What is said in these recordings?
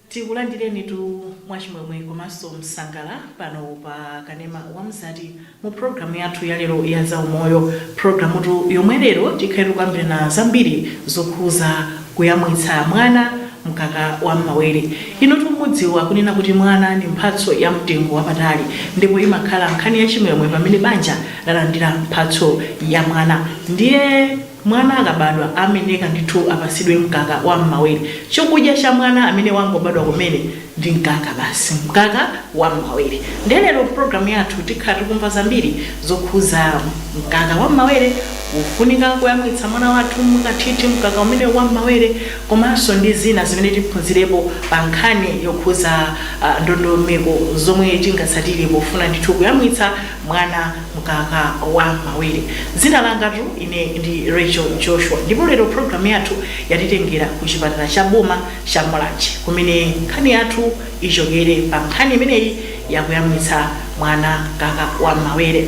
tikulandireni tu mwachimwemwe komanso msangala pano pa kanema wa mzati Mu program yathu ya lero ya za umoyo, programutu yomwe lero tikhale tikukambirana zambiri zokhuza kuyamwitsa mwana mkaka wa mmawere. Inutu mukudziwa kunena kuti mwana ndi mphatso ya mtengo wapatali ndipo imakhala nkhani ya chimwemwe pamene banja lalandira mphatso ya mwana. Ndiye. Mwana akabadwa amayenera ndithu apatsidwe mkaka wa mmawere. Chokudya cha mwana amene wangobadwa kumene ndi mkaka basi. Mkaka wa mmawere. Nde lero mprogram yathu tikhala tikumva zambiri zokhuza mkaka wa mmawere, kufunika koyamwitsa mwana wathu mwakathithi mkaka umenewu wa mmawere komanso ndi zina zimene tiphunzirepo pa nkhani yokhuza ndondomeko zomwe tingatsatire pofuna ndithu kuyamwitsa mwana mkaka wa mmawere. Dzina langatu ine ndi Rachel Joshua ndipo lero program yathu yatitengera ku chipatala cha boma cha Mulanje kumene nkhani yathu ichokere pa nkhani imeneyi yakuyamwitsa mwana mkaka wa mmawere.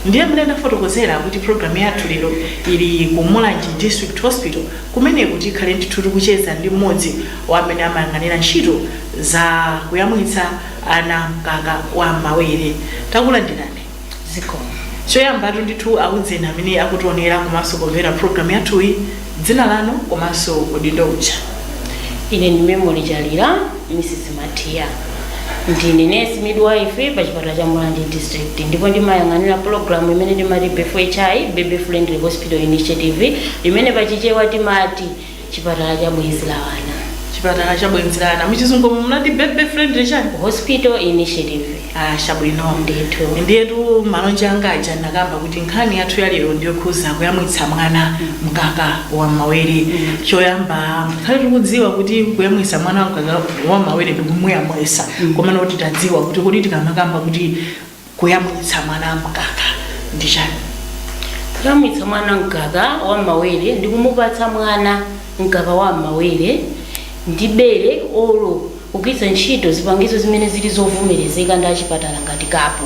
Ndiye mmene ndafotokozera kuti program yathu lero ili ku Mulanje District Hospital kumeneku tikhale ndithu tikucheza ndi mmodzi wa amene amayang'anira ntchito za kuyamwitsa ana mkaka wa mmawere. Takulandirani. zikomo choyambatu ndithu auzeni amene akutionera komanso kumvera programu yathuyi dzina lanu komanso udindo uja ine ndi memory chalira mrs matiya ndine nurse midwife pa chipatala cha mulanje district ndipo ndimayang'anira pulogalamu imene timati bfhi baby friendly hospital initiative imene pachichewa timati Chipatala cha Bwenzi la Ana. Chipatala cha Bwenzi la Ana. Muchizungu munati Baby Friendly chani? Hospital Initiative. Ah, chabwino. Ndithu. Ndiyetu malonje anga aja ndakamba kuti nkhani yathu ya lero ndiyokhuza kuyamwitsa mwana mkaka wa mmawere. Choyamba tikhale tikudziwa kuti kuyamwitsa mwana mkaka wa mmawere ndikumuyamwitsa. Komano tikuti tidziwe kuti kodi tikamakamba kuti Kuyamwitsa mwana mkaka ndi chani? Kuyamwitsa mwana mkaka wa m'mawere ndi kumupatsa mwana mkaka wa m'mawere ndi bere olo kugwiritsa ntchito zipangizo zimene zili zovomerezeka ndi achipatala ngati kapu.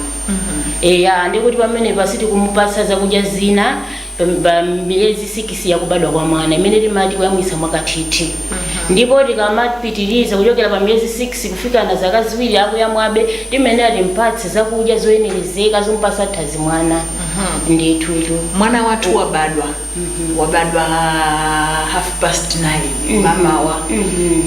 Eya, ndekuti pamenepa sitikumupatsa zakudya zina. pa miyezi sikisi ya kubadwa kwa mwana imene timati kuyamwitsa mwakathithi ndipo tikamapitiriza kuchokera pa miyezi 6 kufikana zaka ziwiri akuyamwabe timayenera timpatse zakudya zoyenerezeka zompatsa thanzi mwana ndithutu mwana wathu wabadwa wabadwa half past 9 mmawa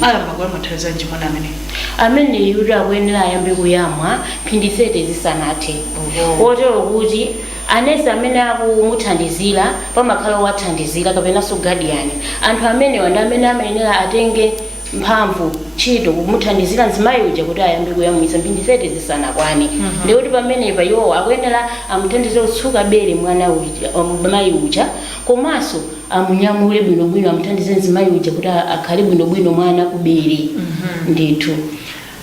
ayamba kuyamwa nthawi yanji mwana amene ameneyu ndekuti akuyenera ayambe kuyamwa mphindi 30 zisanathe Oho. kotero kuti Anesi amene akumuthandizira pamakhala owathandizira kapenanso gadiyani. Anthu amenewa ndi amene amayenera atenge mphamvu, ntchito, kumuthandizira mzimayi uja kuti ayambe kuyamwitsa mphindi 30 zisanakwane. Ndiye kuti pamenepa iwowo akuyenera amuthandize kutsuka bere mwana uja, mayi uja komanso amunyamule bwinobwino, amuthandize mzimayi uja kuti akhale bwinobwino mwana kubere ndithu.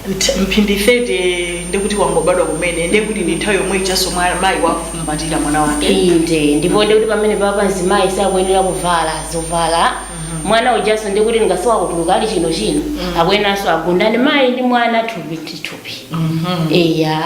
Nt mphindi 30 ndekuti wangobadwa kumene nde kuti ndi nthawi yomwe ijanso mwa- mayi wakumbatira mwana wake inde ndipo ndikuti pamenepapa mzimayi sakuyenera kuvala zovala mwana ujanso ndikuti wangotha kutuluka ali chinochino akuyeneranso agundane mayi ndi mwana thupi ndi thupi eya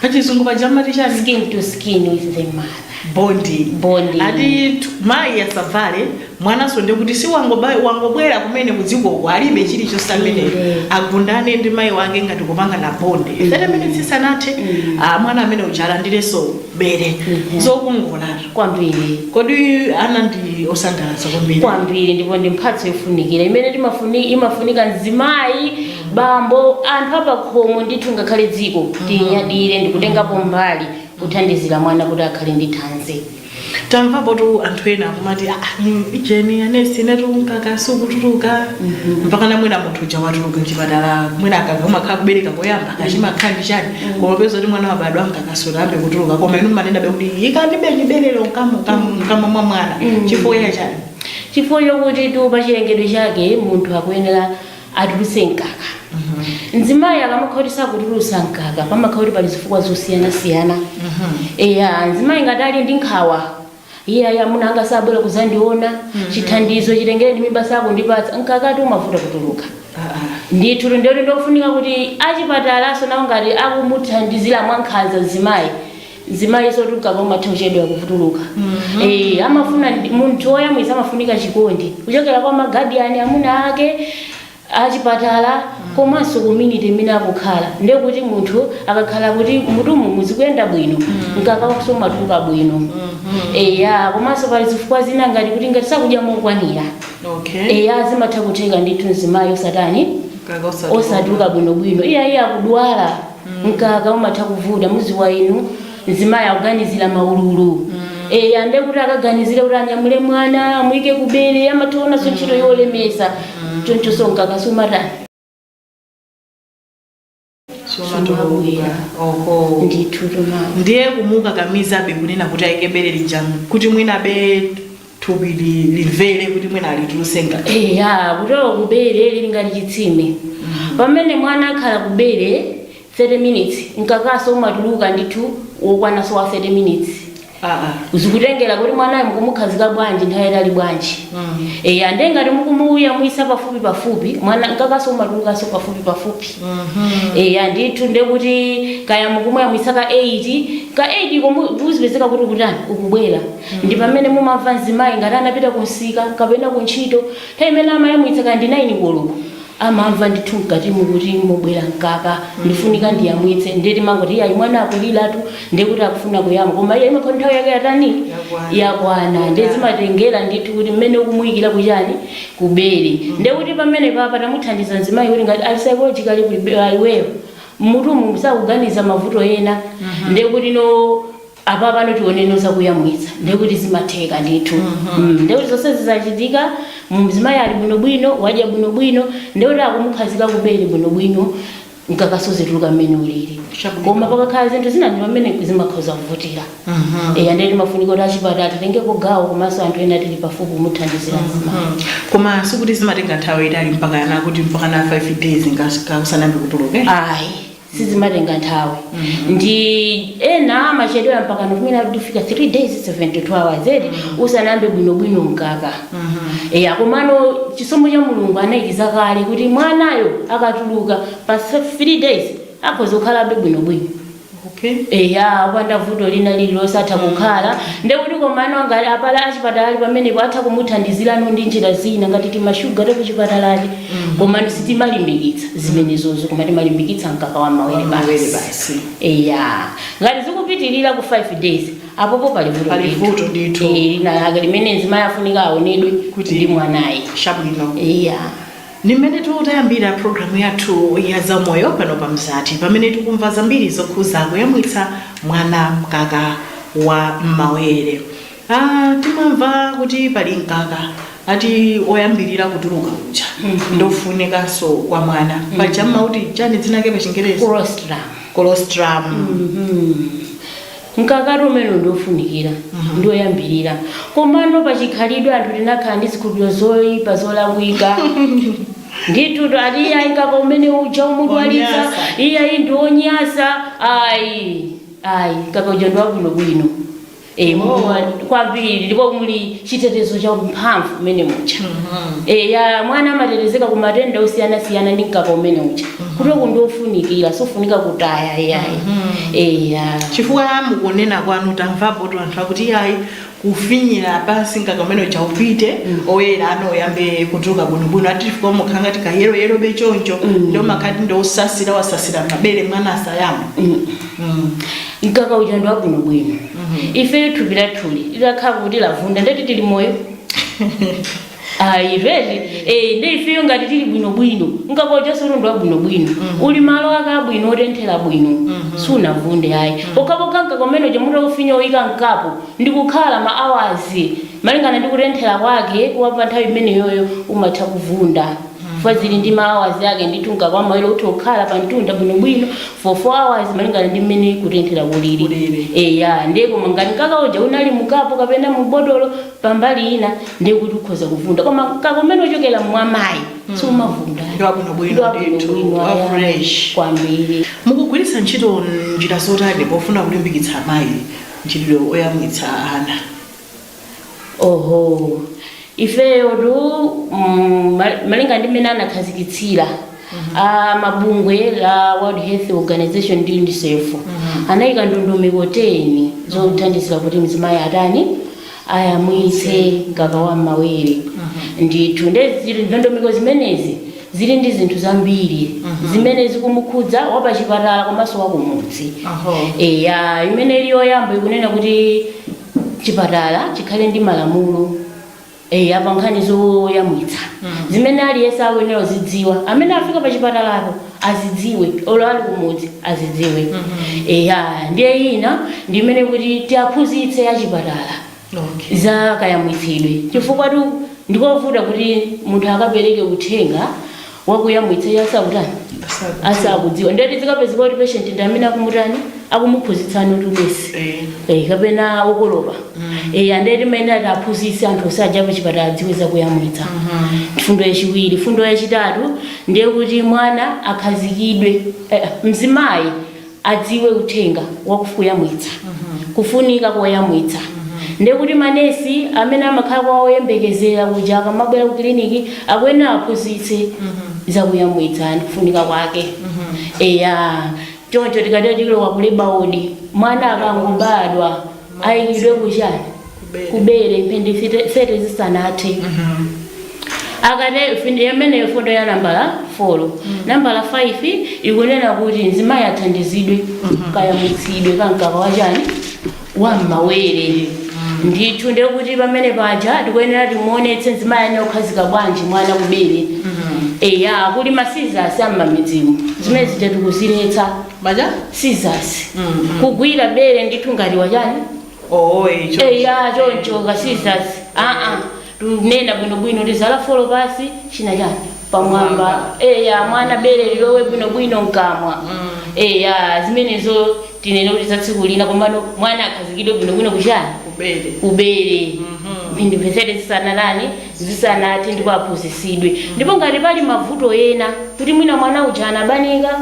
pachizungu paja mmati chani skin to skin with the mother Bondi Bondi. ati tu- mayi asavale mwananso ndikuti si wangoba- wangobwera kumene kudzikoko alibe chilichonse amene Inde. agundane ndi mayi wake ngati kupanga na bondi thete minitsi isanathe ah, mwana amene uja alandirenso bere Mhm. zokongolatu kwambiri kodi ana ndi osangalatsa kwambiri kwambiri ndipo ndi mphatso yofunikira imene timafuni- imafunika mzimayi bambo anthu apakhomo ndithu ngakhale dziko tinyadire ndikutengapo mbali kuthandizira mwana kuti akhale ndi thanzi. tamvapotu anthu ena akumati "Ah, mm, ujeni anesi inetu mkaka sikutuluka mpaka namwina munthu uja watuluka mchipatala mwina akakhala kumakhala kubereka koyamba kaya chimakhala ndi chani kumapeza kuti mwana wabadwa mkaka sunayambe kutuluka koma inu mmanenabe kuti ikanibe bere mkamo mkamo mwa mwana chifukwa cha chani chifukwa chokutitu pa chilengedwe chake munthu akuyenera atulutse mkaka. Mzimayi akamakhala kuti sakutulutsa mkaka pamakhala kuti pali zifukwa zosiyanasiyana. Eya, mzimayi ngati ali ndi nkhawa, iye ayi amuna anga sabwera kudzandiona, chithandizo chitengereni mimba sakundipatsa, mkakatu umavuta kutuluka. Ndithu ndiye kuti ndi kofunika kuti achipatalanso nawo ngati akumuthandizira mwankhanza mzimayi, mzimayi sutuluka umatha kuchedwa kutuluka Eh, amafuna ndi- munthu woyamwitsa amafunika chikondi kuchokera kwa magadiyani amuna ake achipatala komanso community imene akukhala nde kuti munthu akakhala kuti mmutumu zikuyenda bwino mkakawonso umatuluka bwino eya komanso pali zifukwa zina ngati kuti ngati sakudya mokwanira okay eya zimatha kutheka ndithu mzimayi osatani osatuluka bwinobwino iye iye akudwala mkaka umatha kuvuta muziwa inu mzimayi akuganizira maululu eya nde kuti akaganizire kuti anyamule mwana amuyike kubere amaonanso ntchito yolemesa chonchonso mkaka sumatani Sumabwera. oho ndithu tomani ndiye kumukakamizabe kunena kuti ayike bere lija kuti mwina be thupi li, limvere kuti mwina alituluse ngati eya chifukwa kubere lili ngati chitsime pamene mwana akhala kubere 30 minutes mkakaso umatuluka ndithu wokwanaso wa 30 minutes ah, ah. zikutengera kuti mwanayo mukumukhazika bwanji nthawi yatali bwanji Mm. eya nde ngati mukumuyamwisa pafupi pafupi mwana mkakaso umatulukaso pafupi pafupi eya ndithu nde kuti kaya mukumuyamwisa ka 8 ka 8 komu kuzipezeka kuti ukutani ukubwera ndi pamene mumamva mzimayi ngati anapita kunsika kapena kuntchito nthawi imene amayamwitsa kaya ndi 9 koloko amamva ndithu mkatimu kuti mukubwera mkaka ndifunika ndiyamwitse ndiye timangoti iyayi mwana akuliratu ndiye kuti akufuna kuyamwa koma ayi imakhala nthawi yake yatani yakwana ndiye zimatengera ndithu kuti mmene ukumuyikira kuchani kubere ndiye kuti pamene paja tamuthandiza mzimayi kuti ngati ali psychologically prepared iweyo mmutumu sukuganiza mavuto ena ndiye kuti no Apapano tioneno za kuyamwitsa ndiye kuti zimatheka ndithu mm, ndiye kuti zonsezi zachitika mzimayi ali bwinobwino wadya bwinobwino ndiye kuti akumukhazika kubere bwinobwino mkakaso uzituluka mmene ulili Chabwino. koma pakakhala zinthu zina ndi pamene zimakhoza kuvutira eya ndiye timafunika kuti achipatala titengeko gawo komanso anthu ena tili pafupi kumuthandizira mzimayi Mm. koma sikuti zimatenga nthawi yaitali mpaka ana kuti mpaka na 5 days usanayambe kutuluka ayi sizimatenga nthawi ndi ena amachedwera mpaka mwina kufika 3 days 72 hours eti usanayambe bwinobwino mkaka eya komano chisomo cha mulungu anayikiza kale kuti mwanayo akatuluka pa 3 days akhoza kukhalabe bwinobwino okay eya opanda vuto lina lililonse atha kukhala ndekuti komano ngati apa achipatala pamenepo atha kumuthandizirano ndi njira zina ngati timashuga takuchipatala komano sitimalimbikitsa zimenezo koma timalimbikitsa mkaka wa m'mawere Mawere basi basi. eya ngati zikupitirira ku 5 days apopo pali vuto Pali ndithu. vuto ndithu. Eh, lina lake limene mzimayi afunika aonedwe Kuti- ndi mwanayi Chabwino. eya Ndi mmene tayambira programu yathu ya zamoyo pano pa Mzati pamene tikumva zambiri zokhuza kuyamwitsa mwana mkaka wa m'mawere. Aaa timamva kuti pali mkaka ati oyambirira kutuluka uja ndofunikanso kwa mwana paja mumati chani dzina lake pa chingerezi colostrum colostrum mkakati umene ndiofunikira ndioyambirira komano pachikhalidwe anthu tinakhala ndi zikhulupiriro zoipa zolakwika ndithu ati iyayi mkaka umene uja umudwalitsa Wonyasa. iya iyi ndionyasa ayi ayi mkaka uja ndiwabwinobwino Eh, kwambiri ndipo muli chitetezo cha mphamvu umene muja Eh, ya mwana amatetezeka ku matenda osiyanasiyana ndi mkaka umene uja kuti uku ndi ofunikira sofunika kutaya iyayi Eh, ya. chifukwa mukunena kwanu tamvapo kuti anthu akuti ayi kufinyira pansi mkaka umene uja upite oyera unayambe kutuluka bwinobwino ati chifukwa umakhala ngati kayeroyero be choncho ndiye amakati ndi osasira wasasira mabere mwana asayamwe mkaka uja ndi wabwinobwino ifeyo thupi lathuli litakhala kuti lavunda ndeti tili moyo ayi veti eh, ndi ifeyo ngati tili bwinobwino mkaka ujanso uli ndi wabwinobwino uli malo ake abwino otenthera bwino sunavunde ayi pokhapokha mkaka umene uja mutaufinya kuika mkapu ndi kukhala ma hours malingana ndi kutenthera kwake kwa pa nthawi imeneyoyo umatha kuvunda chifukwa zili ndi ma hours ake ndithu mkaka wa m'mawere utha kukhala pa mtunda bwinobwino for 4 hours malingana ndi mmene kutenthera kulili Kulili. eya ndiye koma ngati mkaka uja unali mukapu kapena mubotolo pambali ina ndiye kuti ukhoza kuvunda koma mkaka umene ukuchokera mwamayi sumavunda Ndi wabwinobwino Ndi wabwinobwino, ndithu, wa aya, fresh. kwambiri mukugwiritsa ntchito njira zotani pofuna kulimbikitsa amayi mchitidwe oyamwitsa ana oho ifeyo tu mm, ma- malinga ndi mmene anakhazikitsira a bungwe la world health organization ndi unicef anayika ndondomeko 10 zothandizira kuti mzimayi atani ayamwitse mkaka wa m'mawere ndithu nde zi- ndondomeko zimenezi zili ndi zinthu zambiri zimene zikumukhudza wapachipatala komanso wakumudzi Aho. eya imene ili yoyamba ikunena kuti chipatala chikhale ndi malamulo eya pa nkhani zoyamwitsa zimene aliyense akuyenera kuzidziwa amene afika pa chipatalapo azidziwe olo ali kumudzi azidziwe eya ndiye ina ndi imene kuti tiaphunzitse achipatala okay. za kayamwitsidwe chifukwa tu ndi kovuta kuti munthu akapereke uthenga wakuyamwitsa iye asakutani asakudziwa ndiye kuti zikapezeka kuti patient ndi amene akumutani akumuphunzitsani kuti nesi eh, kapena okolopa eh, ndeti amayenera kuti aphunzitse anthu onse aja pachipatala adziwe zakuyamwitsa mfundo yachiwiri mfundo yachitatu ndiye kuti mwana akhazikidwe eh, mzimayi adziwe uthenga wa kuyamwitsa, kufunika koyamwitsa. Ndiye kuti manesi amene amakhala kwa oyembekezera kuja akamabwera ku kiliniki akuyenera awaphunzitse za kuyamwitsa ndi kufunika kwake. Eya, choncho tikatero tilowa ku leba wodi mwana akangobadwa. ayikidwe kuchani kubere mphindi 30 zisanathe akane fin- imeneyo mfundo ya nambala 4 nambala 5 ikunena kuti mzimayi athandizidwe kayamwitsidwe ka mkaka wachani wam'mawere ndithu ndiye kuti pamene paja tikuyenera timuonetse mzimayi ayenera kukhazika bwanji mwana kubere eya kuli masizasi a m'mamidzimu zimene zija tikuziletsa maja scissors Mhm. kugwira bere ndithu ngati wachani oh eh, cho- eya choncho ka scissors aa tikunena bwinobwino tizala folo pasi china chani pamwamba Pamwamba. eya mwana bere lilowe bwinobwino mkamwa Mm. eya zimenezo tinene kuti za tsiku lina komano mwana akhazikidwe bwinobwino kuchani kubere kubere Mhm. mphindi 30 zisanatani zisanathe ndipo aphunzisidwe ndipo ngati pali mavuto ena kuti mwina mwana uja anabanika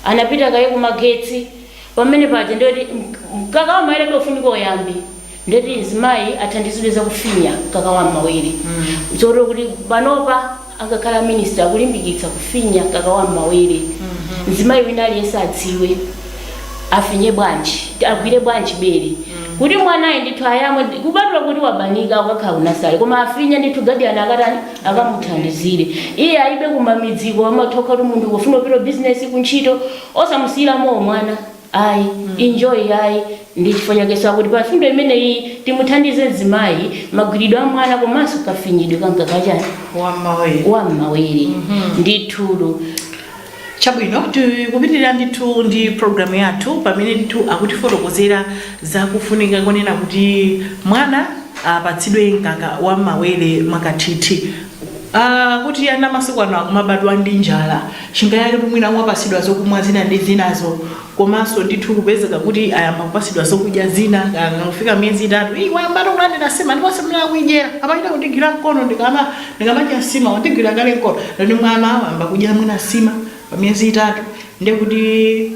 anapita kaye kumagetsi pamene paja ndiye kuti mkaka wa m'mawerebe ukufunika uyambe ndiye kuti mzimayi athandizidwe zakufinya mkaka wa m'mawere zotero kuti panopa angakhale aminista akulimbikitsa kufinya mkaka wa m'mawere mzimayi wina aliyense adziwe afinye bwanji agwire bwanji bere kuti mwanayi ndithu ayamwe kupatula kuti wabanika akakhala ku nasale koma afinye ndithu gadiyani akatani akamuthandizire iye ayibe kumamidziko amathokatu munthu kufuna kupita business kuntchito osamusiyira mowa mwana ayi enjoy ayi ndi chifukwa chake sakuti pa mfundo imeneyi timuthandize mzimayi magwiridwe a mwana komanso kafinyidwe ka mkaka wachani wammawe wam'mawere ndithu Chabwino, tikupitirira ndithu ndi program yathu pamene ndithu akutifotokozera za kufunika konena kuti mwana apatsidwe mkaka wa m'mawere mwakathithi. Aaa kuti ana masiku ano akumabadwa ndi njala, chingayaketu mwina akumapatsidwa zokumwa zina ndi zinazo komanso ndithu kupezeka kuti ayamba kupasidwa zokudya zina kaya kangofika miyezi itatu iyi wayamba ati kulandira nsima ndiponso mmene akuidyera amachita kundigwira mkono ndikama ndikamadya nsima wandigwira kale mkono ndiye mwana wayamba kudya mwina nsima pa miyezi itatu ndiye kuti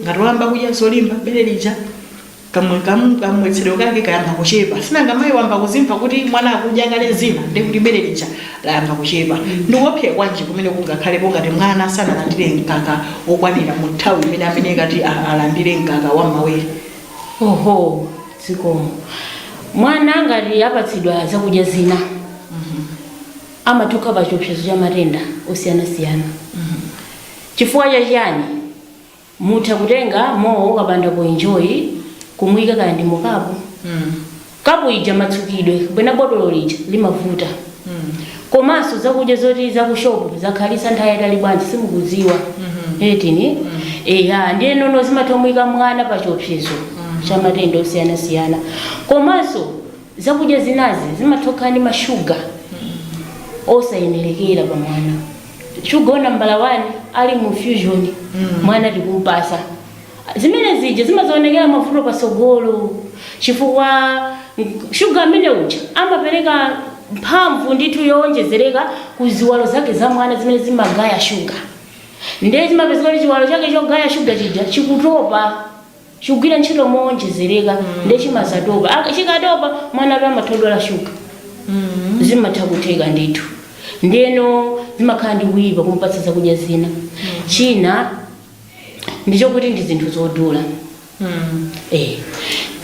ngati wayamba kudya zolimba bere lija kamwe kam- kamwetsedwe kake kayamba kuchepa sinanga mayi wayamba kuzimva kuti mwana akudya kale zina ndiye kuti bere lija layamba kuchepa. Ndi kuopsya kwanji kumene kungakhalepo ngati mwana sanalandire mkaka wokwanira mu nthawi imene amayenekera kuti alandire mkaka wa m'mawere? Oho, zikomo. Mwana ngati apatsidwa zakudya zina amatha ukhala pa chiopsezo cha matenda osiyana siyana. Chifukwa cha chiyani? mutha kutenga mwina kapanda poinjoyi kumuika kaya ndi mu kapu kapu ija matsukidwe kapena botolo lija limavuta komanso zakudya zoti zakushopu zakhalitsa nthawi yaitali bwanji simukudziwa etini eya ndiyeno zimathomuika mwana pa chiopsezo cha matenda osiyanasiyana komanso zakudya zinazi zimathokhala ndi mashuga osayenerekera pa mwana sugar nambala 1 ali mu fusion mwana tikumpasa zimene zija zimadzaonekera mavuto patsogolo chifukwa nk- sugar amene uja amapereka mphamvu ndithu yowonjezereka ku ziwalo zake za mwana zimene zimagaya sugar ndiye zimapezeka kuti chiwalo chake chogaya sugar chija chikutopa chikugwira ntchito mowonjezereka nde chimazatopa Ak- chikatopa mwanatu amathodwala shuga zimatha kutheka ndithu ndeno zimakhala ndi kuyipa kumpatsa zakudya zina china ndichokuti ndi zinthu zodula Eh.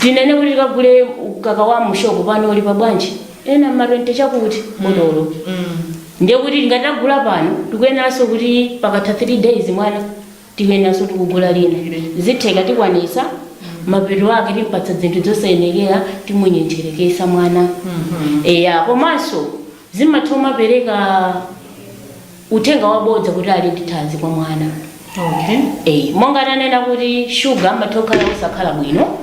tinene kuti tikagule mkaka wa mushopu pano uli pabwanji ena ma 20 chakuti botolo ndiye kuti tingatagula pano tikuyeneranso kuti pakatha 3 days mwana tikuyeneranso tikugula lina zitheka tikwanitsa mapeto ake timpatsa zinthu dzosayenekera timunyentcheretsa mwana eya komanso zimatha kumapereka uthenga wabodza kuti ali ndi thanzi kwa mwana okay. eyi monga tanena kuti shuga amatha kukhala osakhala bwino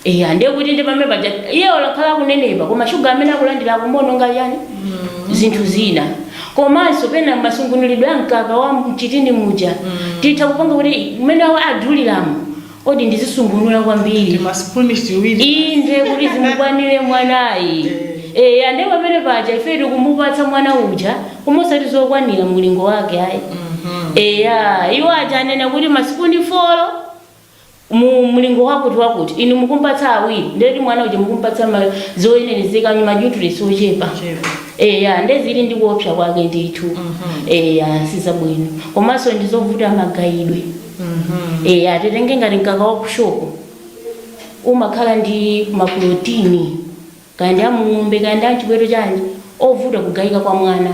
Eya ndiye kuti ndi pamene paja iye olakhala akunenepa koma shuga amene akulandira akumuononga chani zinthu zina komanso pena masungunulidwe a mkaka wa mchitini muja titha kupanga kuti mmene wadulira mo odi ndizisungunula kwambiri timasipuni tiwiri ndi kuti zimukwanire mwanayu eya ndiye pamene paja ife tikumupatsa mwana uja koma osati zokwanira mulingo wake ayi eya iwo aja anena kuti masipuni folo mu mlingo wakuti wakuti inu mukumpatsa awiri ndekuti mwana uja mukumpatsa ma- zoyenerezeka manyutriyentsi ochepa Ochepa. eya ndezili ndi kuopsa kwake ndithu eya sizabwino komanso ndizovuta magayidwe eya titenge ngati mkaka wa kushopu umakhala ndi maprotini kaya ndi a mung'ombe kaya ndi a mchiweto chanji ovuta kugayika kwa mwana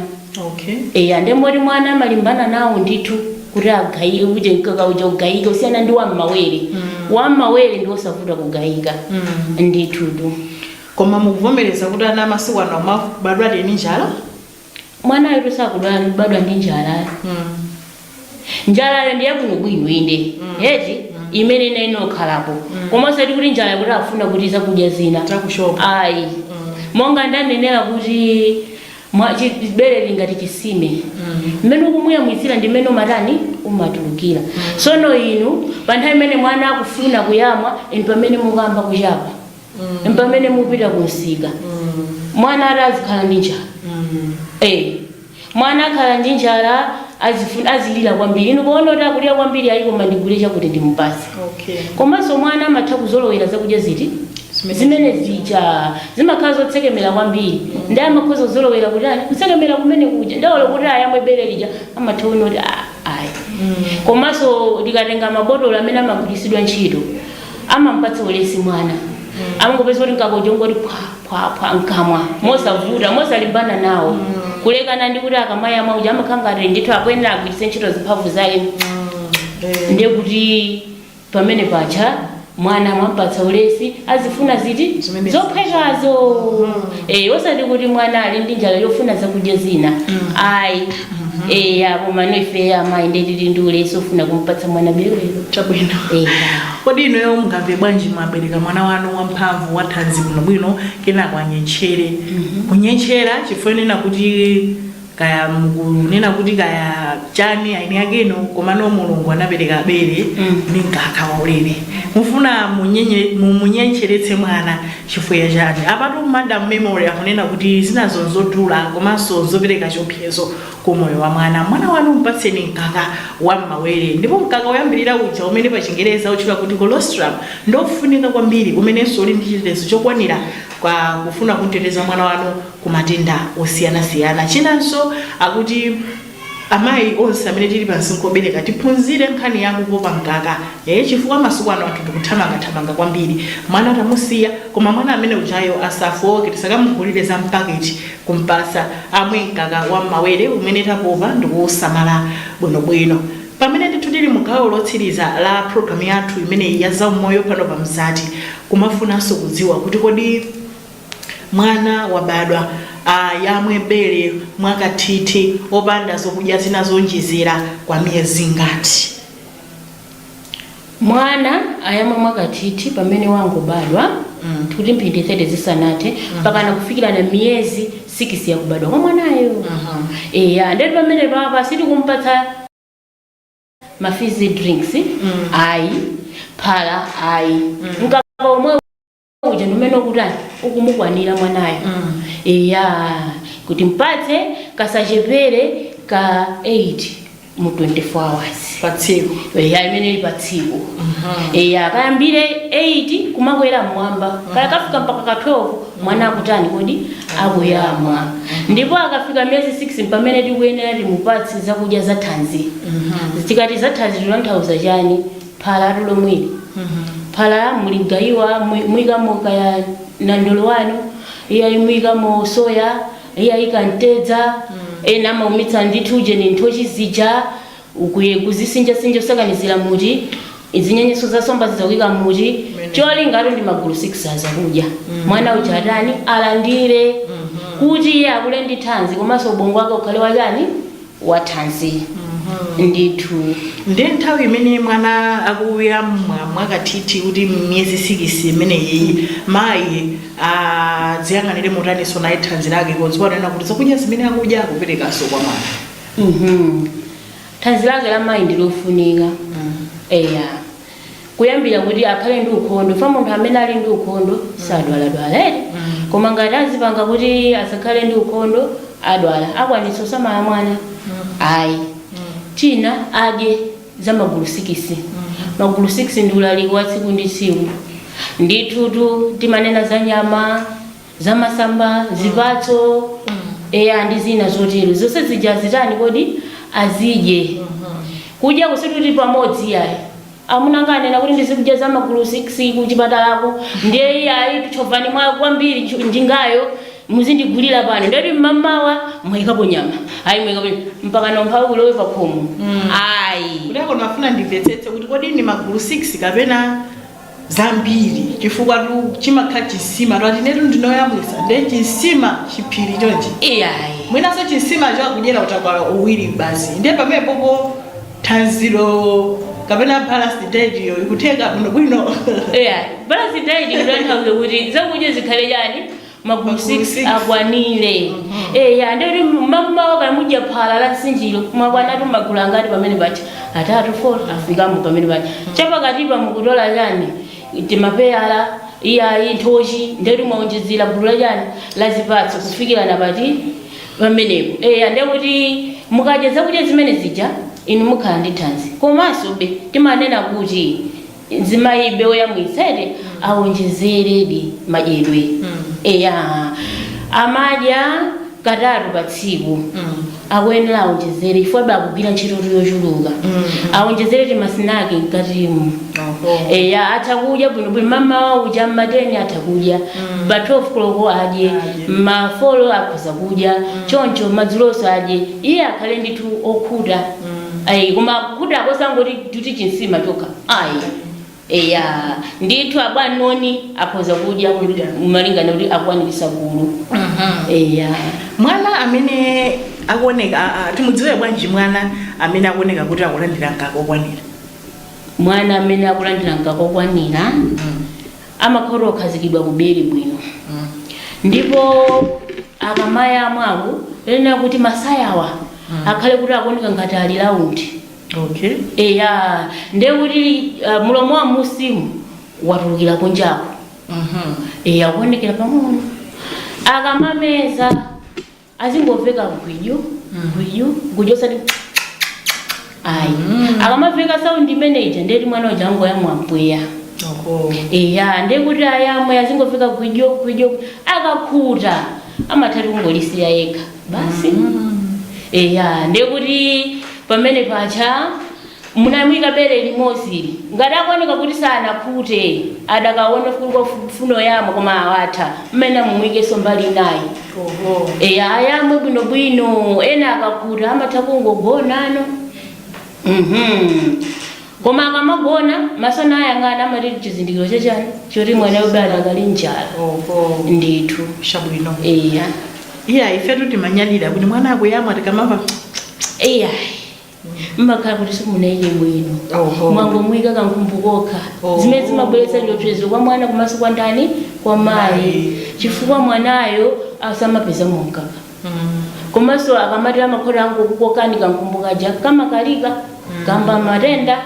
Okay. eya nde moti mwana amalimbana nawo ndithu kuti agayike kuti mkaka uja ugayike kusiyana ndi wam'mawere wam'mawere ndi osavuta kugayika ndithutu Koma mukuvomereza kuti ana amasiku ano amabadwa ndi njala? mwanayo tu sakudwala ndi kubadwa ndi njalayo njalayo ndi yabwino bwino inde eti imene ina inokhalapo koma osati kuti njalayo kuti afuna kuti zakudya zina Chakushopa. ayi monga ndanenera kuti mwa- chi- bere lingati chisime mmene ukumuyamwitsira ndi mmene umatani umatulukira sono inu pa nthawi imene mwana akufuna kuyamwa inu pamene mukamba kuchapa mpamene mupita ku msika mwana ati azikhala ndi njala Eh, mwana akhala ndi njala azifu- azilira kwambiri inu kuona kuti akulira kwambiri ayi koma ndigule chakuti ndimupase Okay. komanso mwana amatha kuzolowera zakudya ziti Zimene- zimene zija zimakhala zotsekemera kwambiri ndi amakhoza kuzolowera kuti ayi kutsekemera kumene kuja nde olo kuti ayamwe bere lija amatha kuona kuti "Ah, ayi komanso tikatenga mabotolo amene amagwiritsidwa ntchito amampatsa ulesi mwana amangopeza kuti mkaka uja ungoti phwa phwa phwa mkamwa mosavuta mosalimbana nawo kulekana ndi kuti akamayamwa uja amakhala ngati ndithu akuyenera agwiritse ntchito zimphamvu zake ndiye kuti pamene paja mwana amampatsa ulesi azifuna ziti Zimene zophwekazo eh osati kuti mwana ali ndi njala yofuna zakudya zina ayi eya komano ife amayi nde tili ndi ulesi ofuna kumpatsa mwana berelo chabwino eya kodi inuyo mungamve bwanji mwabereka mwana wanu wamphamvu wathanzi bwinobwino kenako anyentchere kunyentchera chifukwa munena kuti kaya mukunena kuti kaya chani ayi ndi yake ino komano mulungu anapereka bere ndi mkaka waulere mufuna munyenye- mumunyentcheretse mwana Chifukwa chani? Apatu Madam Memory akunena kuti zinazo nzodula komanso nzopereka chiopsezo ku moyo wa mwana. Mwana wanu mpatseni mkaka wa m'mawere. Ndipo mkaka woyambirira uja umene pa chingerezi amautchula kuti colostrum ndiofunika kwambiri umenenso uli ndi chitetezo chokwanira pa kufuna kumteteza mwana wanu ku matenda osiyanasiyana. Chinanso akuti. Amayi onse amene tili pa msinkhu obereka tiphunzire nkhani ya kupopa mkaka ee chifukwa masiku ano anthu tikuthamanga thamanga kwambiri mwana tamusiya koma mwana amene ujayo asafooke tisakamugulire za mpaketi kumpasa amwe mkaka wa mmawere umene tapopa ndikuusamala bwino bwino pamene ndithu tili mu gawo lotsiriza la program yathu imeneyi ya zaumoyo pano pa Mzati kumafunanso kudziwa kuti kodi Mwana wabadwa ayamwe bere mwakathithi opanda zokudya zina zoonjezera kwa miyezi ingati? Mwana ayamwe mwakathithi pamene wangobadwa mm. kuti mphindi 30 zisanathe mm. mpakana mm. kufikirana miyezi 6 yakubadwa kwa mwanayo uh -huh. eya ndeti pamene papa sitikumpatsa mafizi drinks mm. ayi phala ayi mm. mkaka omwe uja ndi umene ukutani ukumukwanira mwanayo mm. eya kuti mpatse kasachepere ka 8 mu 24 hours patsiku eya imene ili patsiku eya kayambire 8 kumakwera mmwamba kaya kafika mpaka ka 12 mwana akutani kodi akuyamwa ndipo akafika miyezi 6 mpamene tikuyenera timupatse zakudya zathanzi tikati zathanzi titanthauza chani phalatu lomweli phala la mgaiwa mu- muikamo kaya nandolo wanu iyayi muikamo soya iyayi kantedza ena amaumitsa ndithu ujeni nthochi zija nkuyekuzisinjasinja kusakanizira muti zinyenyeso za somba zija kuika muti cholinga atu ndi magulu 6 azakudya mwana uja atani alandire kuti iye akule ndi thanzi komanso ubongo wake ukhale wachani wathanzi ndithu. Nde nthawi imene mwana akuyamwa mwakathithi kuti miyezi sikisi imeneyiyi, mayi adziyang'anire motaninso naye thanzi lake podziwa kunena kuti zakudya zimene akudya akuperekanso kwa mwana? Mhm. Thanzi lake la mayi ndi lofunika. Eya. kuyambira kuti akhale ndi ukhondo fa munthu amene ali ndi ukhondo sadwaladwala eti koma ngati azipanga kuti asakhale ndi ukhondo adwala akwanitsa kusamala mwana ayi china adye za magulu 6 magulu 6 ndi ulaliki wa tsiku ndi tsiku ndithutu timanena za nyama zamasamba, zipatso eya ndi zina zotero zonse zija azitani kodi azidye kudya sikuti kuti pamodzi iyayi amuna anga anena kuti ndizikudya za magulu 6 ku chipatalako ndiye iyayi tchovani mwa kwambiri ntchu- njingayo muzindigulira pano ndeti mmamawa mwayikapo nyama ayi mwayikapo nyama. mpaka naumphawi kulowe pa khomo ayi kuti akono afuna ndimvetsetse kuti kodi ndi magulu 6 kapena zambiri chifukwa tu chimakhala chisima ati inetu ndine oyamwisa nde chisima chiphiri chonchi iyayi mwinaso chisima chakudyera utakwala uwiri basi nde pamenepo po thanziro kapena balanced diet iyo ikutheka bwinobwino eya balanced diet kutanthauza kuti zakudya zikhale chani magulu 6 akwanire eya ndeti mmamawa kaya mudya phala la nsinjiro mwakwanatu magulu angati pamenepa cha atatu 4 afikamo pamenepa cha chapakatipa mukutola chani timapeyala iyayi nthochi ndeti mwaonjezera gulu la chani la zipatso kufikira na pati pamenepo eya ndekuti mukadya zakudya zimene zija inu mukhala ndi thanzi komansobe timanena kuti mzimayi woyamwitsa eti awonjezeredi madyedwe eya amadya katatu pa tsiku akuyenera awonjezere chifukwa iye akugwira ntchitotu yochuluka awonjezere timasinaki mkatimu eya atha kudya bwinobwino mamawa uja mmateni atha kudya pa 12 koloko adye mafolo akhoza kudya choncho madzulonso adye iye akhale ndithu okhuta Ayi, koma kukhuta kwake osangoti kukhuta chinsima chokha ayi eya ndithu apa ndi apo akhoza kudya Kudya. malingana kuti akwaniritsa magulu eya mwana amene akuoneka a- a- timudziwe bwanji mwana amene akuoneka kuti akulandira mkaka okwanira mwana amene akulandira mkaka okwanira amakhala okhazikidwa kubere bwino ndipo akamayamwa woyenera kuti masayawa akhale kuti akuoneka ngati ali laundi Okay. Eya, nde kuti uh, mulomo wa munsimu watulukira kunjako. Mhm. Eya, kuonekera pang'ono. Akamameza azingomveka gwidyo, gwidyo, gwidyo osati ayi. Akamamveka sound imeneyo nde kuti mwana uja angoyamwa mpweya. Oho. Eya, nde kuti ayamwe azingomveka gwidyo, gwidyo. Akakhuta amatha kungolisiya yekha. basi eya ndiye kuti pamene paja munamuika bere limodzi ngati akuoneka kuti sanakhute adakaonekabe akufuna kuyamwa koma lawathera limenelo mumuikenso mbali inayi oho eya ayamwe bwinobwino ena akakhuta amatha kungogonanso mhm Koma akamagona, maso akuyang'ana amati nchizindikiro cha chani? Choti mwanayo maybe adakali ndi njala. Oho. Ndithu. Chabwino. Eya. Iya ifetu timanyadira kuti mwana akuyamwa tikamava Eya. Mmakhala kuti simunamuike bwino. Oho. Mwangomuyika kankhumbu kokha. Oho. Zimene zimabweretsa chiopsezo kwa mwana komanso kwa ndani? Kwa mayi. Mayi. Chifukwa mwanayo asamapezamo mkaka. komanso akamati amakhala akungokukokani kankhumbu kaja kamakalika kayamba matenda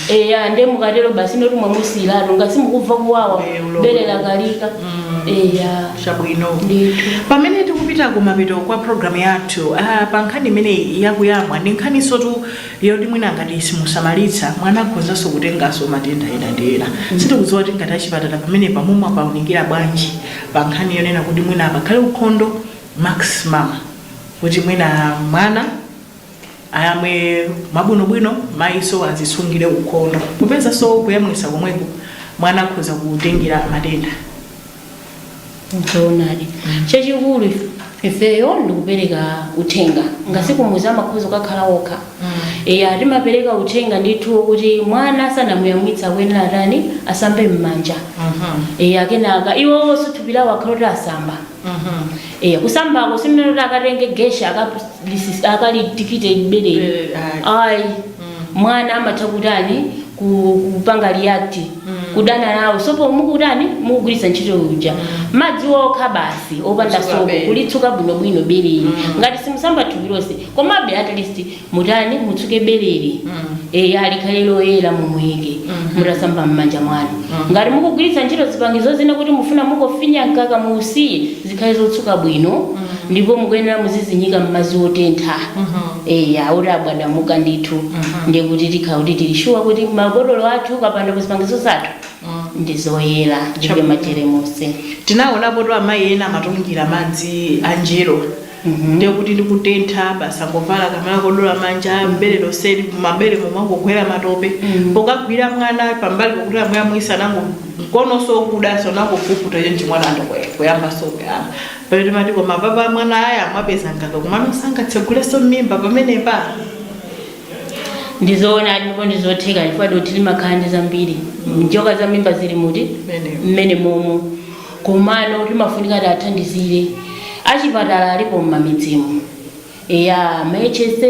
eya nde mukatero basi ndi kuti mwamusiyiratu ngati mukumva kuwawa Eh, ulo- bere lakalika eya chabwino ndithu pamene tikupita kumapeto kwa programu yathu ah, pa nkhani imeneyi yakuyamwa ndi nkhaninsotu yoti mwina ngati simusamalitsa mwana akhozanso kutenganso matenda ena ndi ena sitikudziwa kuti ngati achipatala pamenepa mumawaunikira bwanji pa nkhani yonena kuti mwina pakhale ukhondo maximum kuti mwina mwana ayamwe mwabwinobwino mayinso azisungire ukhondo popezanso kuyamwitsa komweko mwana akhoza kutengera matenda zoonadi chachikulu ifeyo ndikupereka uthenga ngati kumudzi amakhoza kukakhala okha Eya, timapereka uthenga ndithu wokuti mwana asanamuyamwitse akuyenera kutani? Asambe m'manja. Eya, kenaka iwowonso thupi lawo akhale oti asamba. Eya, kusambako sitikunena kuti akatenge geshe akalisi- akalitikite bere. Bere, ayi. Ayi. Mwana amatha kutani? Ku- Kupanga react. Kudana nawo. Sopo mukutani? Mukugwiritsa ntchito uja. Madzi okha basi, opanda Kutsuka sopo. bere. Kulitsuka bwinobwino bereli. Ngati simusamba thupi lonse, komabe at least mutani mutsuke beleli eya likhale loyera mumuike mutasamba m'manja mwanu ngati mukugwiritsa ntchito zipangizo zina kuti mufuna mukafinye mkaka muusiye zikhale zotsuka bwino ndipo mukuyenera muzizinyika m'madzi otentha eya oti abwatamuka ndithu ndiye kuti tikhala kuti tili shuwa kuti mabotolo athu kapenanso zipangizo zathu ndi zoyera zilibe majeremusi tinaonapo kuti amayi ena amatungira madzi a mnjero Ndiye kuti ndikutentha basi angovala kamala kodula manja bere lonseli mabere momwe angogwira matope pokagwira mwana pambali pokuti amuyamwitsa nango mkononso okudanso nangopukuta iye mchimwana ndikuyambanso kuyamba pamene timati koma apapa mwana aya amapezanga ka kumano sangatsegulenso mmimba pamenepa ndizoona ndipo ndizotheka chifukwa dothi limakhala ndi zambiri njoka za m'mimba zili muti m'menemomo komano timafunika tiathandizile achipatala alipo m'mamidzimu eya ma HSA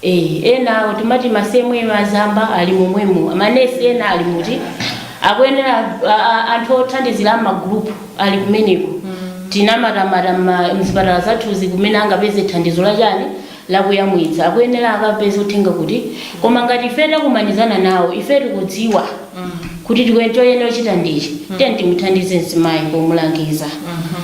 eh, ena timati ma CMA azamba ali momwemo manesi ena ali muti akuyenera a- a- anthu othandizira amagrupu ali kumeneko tinamwazamwaza mma- mzipatala zathuzi kumene angapeze thandizo lachani lakuyamwitsa akuyenera akapeze uthenga kuti koma ngati ife takumanizana nawo ife tikudziwa kuti tikuyene choyenera kuchita ndichi tiyeni timuthandize mzimayi pomulangiza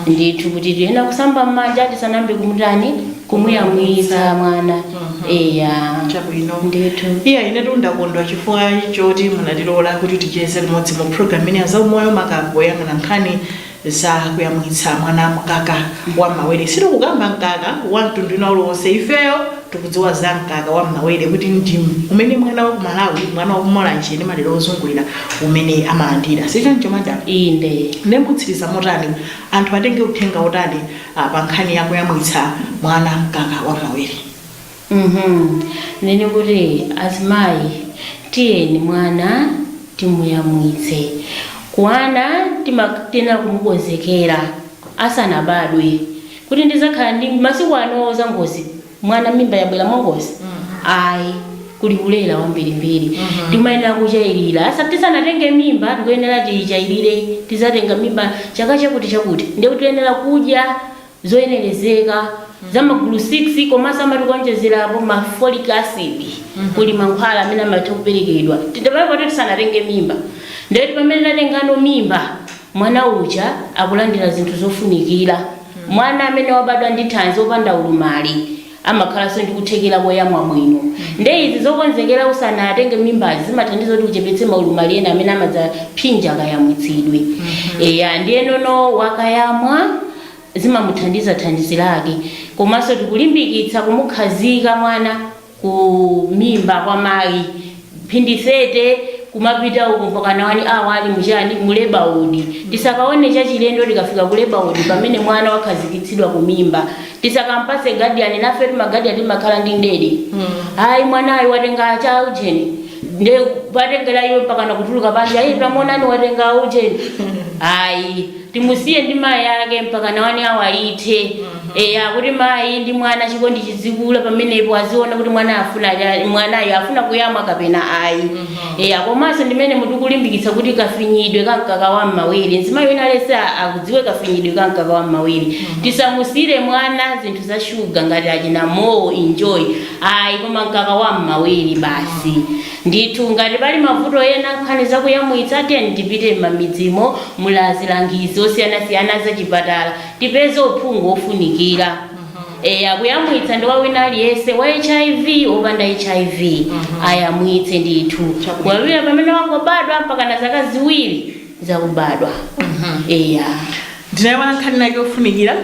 ndithu kuti tiyenera kusamba m'manja tisanayambe kumutani kumuyamwitsa mwana eya chabwino ndithu iya ine ndakondwa chifukwa choti munatilola kuti ticheze limodzi mu program ino ya zaumoyo makamaka poyang'ana nkhani za kuyamwitsa mwana mkaka wa m'mawere sitikukamba mkaka wa mtundu wina uliwonse ifeyo tikudziwa za mkaka wa m'mawere kuti ndi umene mwana wa ku malawi mwana wa ku mulanje ndi madera ozungulira umene amalandira sichoncho madam inde nde mutsiriza motani anthu atenge uthenga utani ah, pa nkhani ya kuyamwitsa mwana mkaka wa m'mawere uhmm ndinene kuti azimayi tiyeni mwana timuyamwitse mwana timak tiyenera kumukonzekera asanabadwe kuti ndidzakhala ndi masiku ano zangozi mwana mimba yabwera mwangozi ayi kuli kulera wambirimbiri timayenera kuchalira asa tisanatenge mimba tikuyenera tiyichalire tidzatenga mimba chaka chakuti chakuti ndekuti tiyenera kudya zoyenerezeka za magulu 6 komanso amati kuonjezerapo ma folic acid kuli mankhwala amene amatha kuperekedwa chipatala poti tisanatenge mimba nde kuti pamene tatengano mimba mwana uja akulandira zinthu zofunikira mwana amene wabadwa ndi thanzi wopanda ulumali amakhalanso ndi kuthekera koyamwa bwino nde izi zokonzekera usanatenge mimbazi zimathandiza kuti uchepetse maulumali ena amene amadzaphinja kayamwitsidwe eya ndiyenono wakayamwa zimamuthandiza thanzi lake komanso tikulimbikitsa kumukhazika mwana ku mimba kwa mayi mphindi 30 kumapita uko mpakana one hour ali mujeni mu labor ward. Tisakaone chachilendo tikafika ku labor ward pamene mwana wakhazikitsidwa ku mimba, tisakampase guardian nafe ma guardian timakhala ndi ndede ayi mwanayo watenga cha ujeni nde potengera iyo mpakana kutuluka panja ayi tamuonani watenga ujeni ayi timusiye ndi mayi ake mpakana one hour ithe eya kuti mayi ndi mwana chikondi chizikula pamenepo aziona kuti mwana afuna cha- mwanayo afuna kuyamwa kapena ayi eya komanso ndimene mutikulimbikitsa kuti kafinyidwe ka mkaka wa mmawere mzimayi wina aliyense akudziwe kafinyidwe ka mkaka wa mmawere tisamusiyire mwana zinthu za shuga ngati achina mowo enjoy ayi koma mkaka wa mmawere basi Ndithu ngati pali mavuto ena nkhani za kuyamwitsa tiyeni tipite m'mamidzimo muli azilangizi osiyanasiyana azachipatala tipeze uphungu ofunikira eya kuyamwitsa ndi kwa wina aliyense wa hiv opanda hiv ayamwitse ndithu kuyambira pamene wangobadwa mpakana zaka ziwiri zakubadwa eya ndinayiwala nkhani inayake yofunikira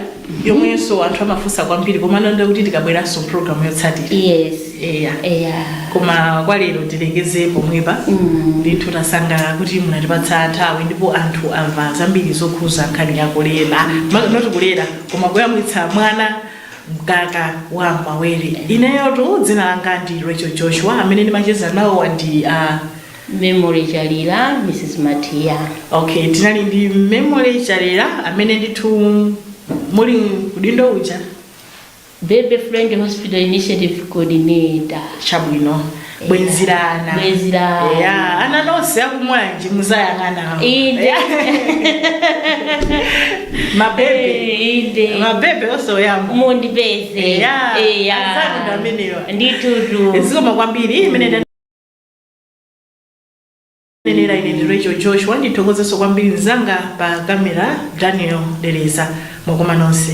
yomwenso anthu amafunsa kwambiri koma ndiona kuti tikabweranso mpulogalamu yotsatira yes eya eya koma kwa lero tilekeze pomwepa Mm. ndithu tasangalala kuti munatipatsa nthawi ndipo anthu amva zambiri zokhuza nkhani ya kulera Ma- not kulera koma kuyamwitsa mwana mkaka wa mawere ineyotu dzina langa ndi rachel joshua amene ndimacheza nawo ndi uh, Memory Chalira, Mrs. Matiya. Ok, tinali ndi Memory Chalira amene ndithu muli ku udindo uja. Baby Friendly Hospital Initiative Coordinator. Chabwino. Bwenzi la ana. Bwenzi la ana. Eya, ana nonse akuMwanje muzayang'ana awo. Inde. Eya. Mabebe. Eh, Inde. Mabebe onse oyamba. Mundipeze. Eya. Eya. Anzanu ndi amenewa. Nditutu. Zikomo kwambiri imene nenera ine ndi rachel joshua ndithokozenso kwambiri mzanga pa kamera daniel dereza mwakoma nonse